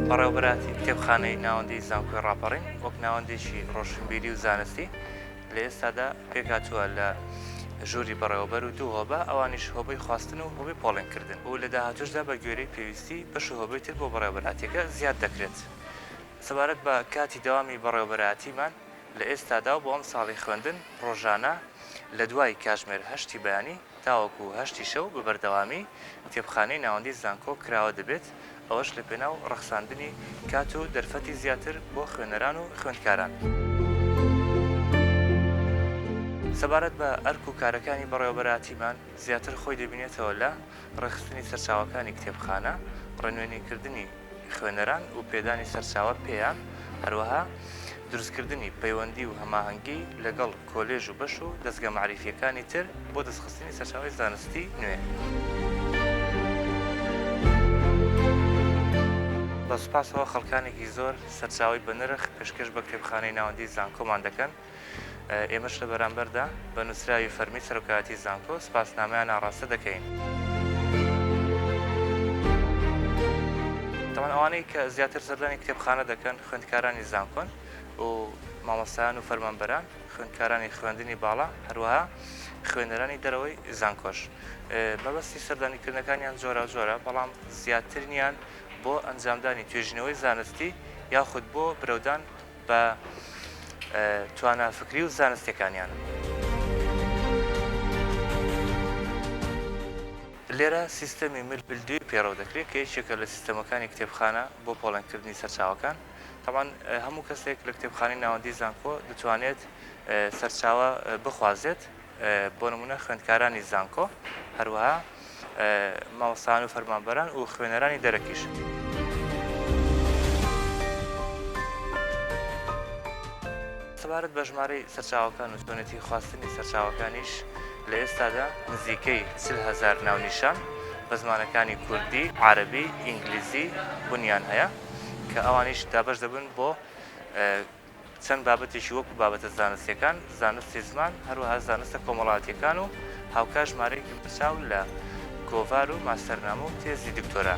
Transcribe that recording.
بەڕێوبەراتی کتێبخانەی ناوەندی زانکۆی ڕاپەڕین وەک ناوەندێکی ڕۆشنبیری و زانستی لە ئێستادا پێکاتوە لە ژووری بەڕێوەبەر و دوو هۆبە ئەوانیش هۆبەی خواستن و هۆبی پۆڵێنکردن و لە داهاتوشدا بە گوێرەی پێویستی بەش و هۆبەی تر بۆ بەڕێوبەراتیەکە زیاد دەکرێت سەبارەت بە کاتی دەوامی بەڕێوبەراتیمان لە ئێستادا و بۆ ئەم ساڵی خوێندن ڕۆژانە لە دوای کاژمێر هەشتی بەیانی تاوەکو هەشتی شەو بە بەردەوامی کتێبخانەی ناوەندی زانکۆ کراوە دەبێت، ئەوەش لە پێناو ڕەخساندنی کات و دەرفەتی زیاتر بۆ خوێنەران و خوێندکاران. سەبارەت بە ئەرک و کارەکانی بەڕێوەبەرایەتیمان، زیاتر خۆی دەبینێتەوە لە، ڕێکخستنی سەرچاوەکانی کتێبخانە، ڕێنوێنیکردنی، خوێنەران و پێدانی سەرچاوە پێیان، هەروەها دروستکردنی پەیوەندی و هەماهەنگی لەگەڵ کۆلێژ و بەش و دەزگا مەعریفییەکانی تر بۆ دەستخستنی سەرچاوەی زانستی نوێ. بە سوپاسەوە خەڵکانێکی زۆر سەرچاوەی بەنرخ پێشکەش بە کتێبخانەی ناوەندیی زانکۆمان دەکەن. ئێمەش لە بەرامبەردا بە نووسراوی فەرمی سەرۆکایەتی زانکۆ سپاسنامەیان ئاڕاستە دەکەین. تاوان ئەوانەی کە زیاتر سەردانی کتێبخانە دەکەن خوێندکارانی زانکۆن و مامۆستایان و فەرمانبەران، خوێندکارانی خوێندنی باڵا، هەروەها خوێنەرانی دەرەوەی زانکۆش. مەبەستی سەردانیکردنەکانیان جۆراوجۆرە، بەڵام زیاترینیان بۆ ئەنجامدانی توێژینەوەی زانستی یاخود بۆ برەودان، بە توانا فکری و زانستیەکانیان. لێرە سیستەمی مل بلدوی پێڕەو دەکرێت کە یەکێکە لە سیستەمەکانی کتێبخانە بۆ پۆڵێنکردنی سەرچاوەکان تەبان هەموو کەسێک لە کتێبخانەی ناوەندی زانکۆ دەتوانێت سەرچاوە بخوازێت بۆ نموونە خوێندکارانی زانکۆ، هەروەها مامۆستایان و فەرمانبەران و خوێنەرانی دەرەکیش. سەبارەت بە ژمارەی سەرچاوەکان و چۆنێتی خواستنی سەرچاوەکانیش لە ئێستادا نزیکەی چل هەزار ناونیشان بە زمانەکانی کوردی، عەرەبی، ئینگلیزی بونیان هەیە کە ئەوانیش دابەش دەبن بۆ چەند بابەتێکی وەکو بابەتە زانستیەکان، زانستی زمان، هەروەها زانستە کۆمەڵاتیەکان و هاوکات ژمارەیەکی بەرچاو لە گۆڤار و ماستەرنامە و تێزی دکتۆرا.